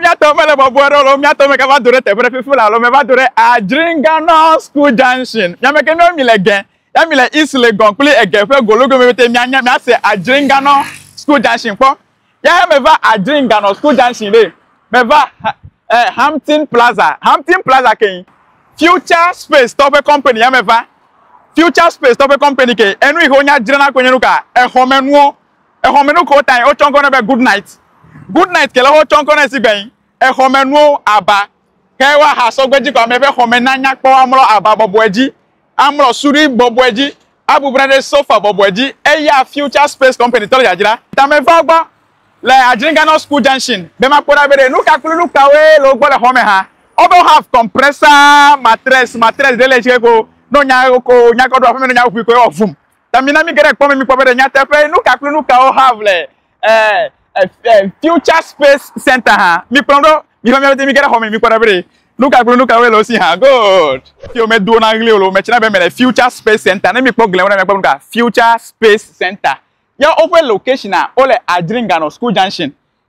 Miatɔ mele bɔbɔe ɖe alo miatɔ me kava do ɖe teƒe ɖe fifi la alo meva do ɖe Adringano School Junction. Miame ke nɔ mi le ge ya mi le East Legon kple ege ƒe gologome pɛtɛ mianya miase Adringano School Junction kpɔ. Ya meva Adringano School Junction ɖe meva eh, Hampton Plaza. Hampton Plaza ke Future Space tɔ ƒe company ya meva. Future Space tɔ ƒe company ke enu yi ke wonya dzrana koe nye nu ka exɔmenuwo. Exɔmenukuwo tae wotsɔ ŋkɔ nɛ be Good Night. Good Night ke lɔ wotsɔ ŋkɔ nɛ si gbe nyi exɔmenuwo aba ke woaha sɔgbe ji kɔ ame ƒe xɔme na nya kpɔ amlɔ aba bɔbɔe ji, amlɔ suɖui bɔbɔe ji, abubu na ɖe sofa bɔbɔe ji eya Future Space Company tɔ le dzadzra. Tame va wo gbɔ le Adringanor School Junction be makpɔ ɖa be ɖe nuka kple nukawoe le wo gbɔ le xɔme hã. Obo have compressor, mattress, mattress ɖe le tse ko ne wonya eko nyakɔ ɖo aƒeme ne wonya ŋuŋui ko ye wɔ vum. Ta mina míge ɖe kpɔ me míkpɔ be ɖe nyateƒee nu ka kple nu kawo hã ʋle eh, eh, eh, Future Space Center hã. Mikplɔm ɖo, miva mía dzi míge ɖe xɔ me míkpɔ ɖa be ɖe nu ka kple nu kawoe le wo si hã. Good. Fi womedowo na ɣli o le wo me tsina be mele Future Space Center. Ne mikpɔ gliawo ɖa miakpɔ nu ka? Future Space Center. Ya woƒe locationaa, wole Adringanɔ School Junction.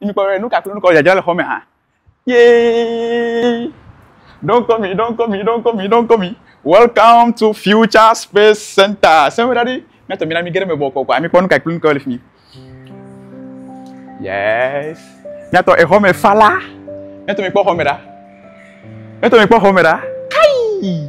Imi kpɔ nu ka kple nu ka dzadzra le xɔ me hã. Yee! Don't call me, don't call me, don't call me, don't call me. Welcome to Future Space Center. Sɛnwó ɖa ɖi. Míatɔ mi na mi ge ɖe me bɔ kɔkɔ. Ami kpɔ nu ka kple nu ka le fi mi. Yes. Míatɔ exɔ me fa la. Míatɔ mi kpɔ xɔ me ɖa. Míatɔ mi kpɔ xɔ me ɖa. Kai!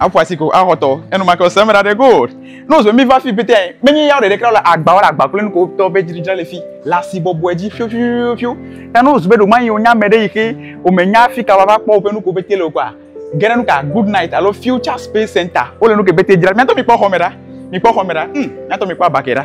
Aƒo asi ko axɔtɔ. Enumake wòsẽ eme ɖaɖɛ gold. Ne wòzu be míva fii pɛtɛa, menye yawo ɖeɖe kura le agba wɔla agba kple nukowo tɔ be dziɖudzra le fii le asi bɔbɔe dzi fiofiofiofio. Ta ne wòzu be ɖewomayi wònye ame ɖe yi xe wòmenya fika wòava kpɔ woƒe nukowo pɛtɛ le o kɔa, ge ɖe nuka Good Night alo Future Space Center wole nuke pɛtɛ dzram. Mía ŋutɔ mikpɔ xɔme ɖa. Mikpɔ xɔme ɖa. Hm, mía ŋutɔ mikpɔ aba ke ɖa.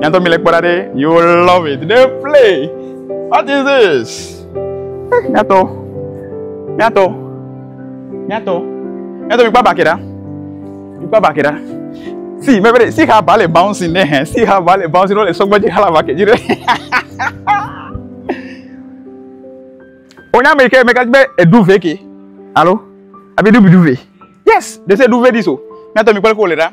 Nyantɔ mi le kpɔ ɖa ɖe. You love it. They play. What is this? Eh, nyantɔ. Nyantɔ. Nyantɔ. Nyantɔ mi kpɔ abake ɖa. Mi kpɔ abake ɖa. See, my brother, see how Bale bouncing there. See how Bale bouncing. All the song magic hala back. You know. Onya me ke me ka be edu veke. Hello. Abi du bi du ve. Yes, they say do very so. Nyantɔ mi kpɔ ko le ɖa.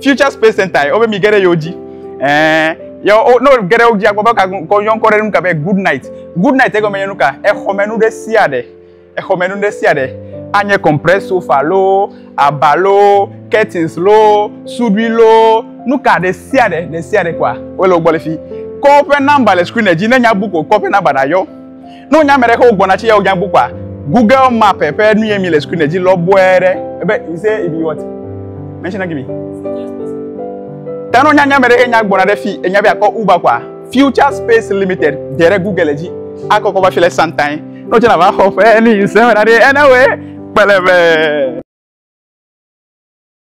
future space center ye wobe mi ge ɖe yewo dzi ɛɛ ye wo ne ge ɖe wo dzi agbɔ be ka kɔ yɔ ŋkɔ ɖe nu ka be good night good night egɔme nye nu ka exɔmenu ɖe sia ɖe exɔmenu ɖe sia ɖe anye compress sofa loo aba loo curtains loo suɖui loo nu ka ɖe sia ɖe ɖe sia ɖe kɔa wole wo gbɔ le fi kɔ woƒe namba le screen dzi ne nya book o kɔ woƒe namba na yɔ Ne wonya ame ɖe ke wogbɔna tsi yawo nyagbu kpɔa, Google map ƒe nu yɛ mi le sukuu ne dzi lɔ bɔɛ ɖe. Ebe, you say it be what? Mention again. Ta ne wonya nya ame ɖe ke nya gbɔna ɖe fi, enya be akɔ Uber kpɔa, Future Space Limited de ɖe Google le dzi. Akɔ kɔ va fi le santain. Ne wotsi na va xɔ ƒe, ne you say wena ɖe, ena wɛ, kpele be.